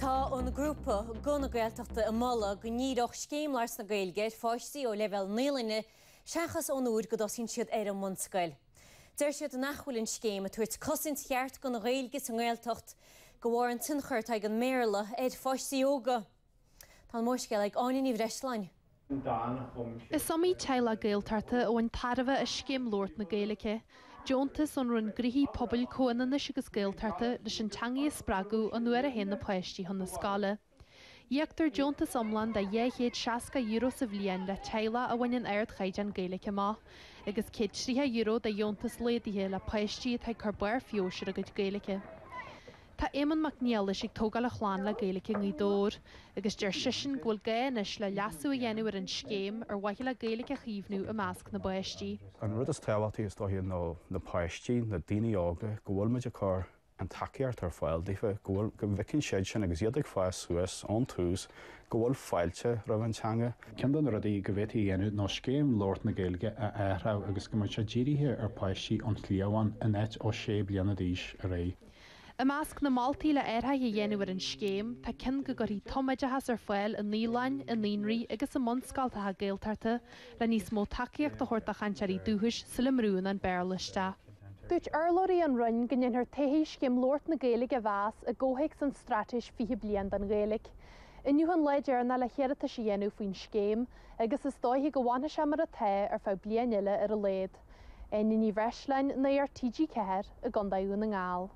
Tá an grúpa Guth na Gaeltachta ag moladh go ndíreodh Scéim Labhairt na Gaeilge ar pháistí ó leibhéal naíolainne seachas ón uair go dtosaíonn siad ar an mbunscoil. Deir siad nach bhfuil an scéim ag tabhairt cosaint cheart don Ghaeilge sa nGaeltacht de bharr an tionchair atá ag an mBéarla ar pháistí óga. Tá an mórscéal ag Áine Ní Bhreisleáin. Is iomaí teaghlach Gaeltachta a bhain tairbhe as Scéim Labhairt na Gaeilge, deontas ón Roinn Gnóthaí Pobail, Comhionannais agus Gaeltachta, leis an teangaidh a spreagadh nuair a théann na páistí chun na scoile. Íoctar deontas iomlán de €260 sa bhliain le teaghlaigh a bhaineann ardchaighdeán Gaeilge amach, agus €130 de dheontas laghdaithe le páistí atá ag cur barr feabhais ar a gcuid Gaeilge. Tá Éamonn Mac Niallais ag tógáil a chlann le Gaeilge i nGaoth Dobhair agus deir seisean go bhfuil gá anois le leasú a dhéanamh ar an scéim ar mhaithe le Gaeilge a chaomhnú i measc na bpáistí. An rud is tábhachtaí is dóiche ná na páistí, na daoine óga, go bhfuil muid ag cur an tacaíocht ar fáil daofa, go bhfuil, go bhfeiceann siad sin agus iad ag fás suas ón tús go bhfuil fáilte roimh an teanga. Cionn de na rudaí go bhféadfaí a dhéanamh ná Scéim Labhairt na Gaeilge a athrú agus go mbeadh sé dírithe ar pháistí ón chliabhán in áit ó sé bliana d'aois ar aghaidh. I measc na moltaí le athraithe a dhéanamh ar an scéim, tá cionn go gcuirfí tumoideachas ar fáil i naíolainn, i naíonraí agus i mbunscoltacha Gaeltachta le níos mó tacaíocht a thabhairt do chainteoirí dúchais sula mbrúnn an Béarla isteach. Dúirt urlabhraí ón Roinn go ndéanfar todhchaí Scéim Labhairt na Gaeilge a mheas i gcomhthéacs an Straitéis 20 Bliain don Ghaeilge. Inniu an lá deireanach le hiarratais a dhéanamh faoin scéim agus is dóiche go bhfanfaidh sé mar atá ar feadh bliain eile ar a laghad. Áine Ní Bhreisleáin, Nuacht TG4, i gContae Dhún na nGall.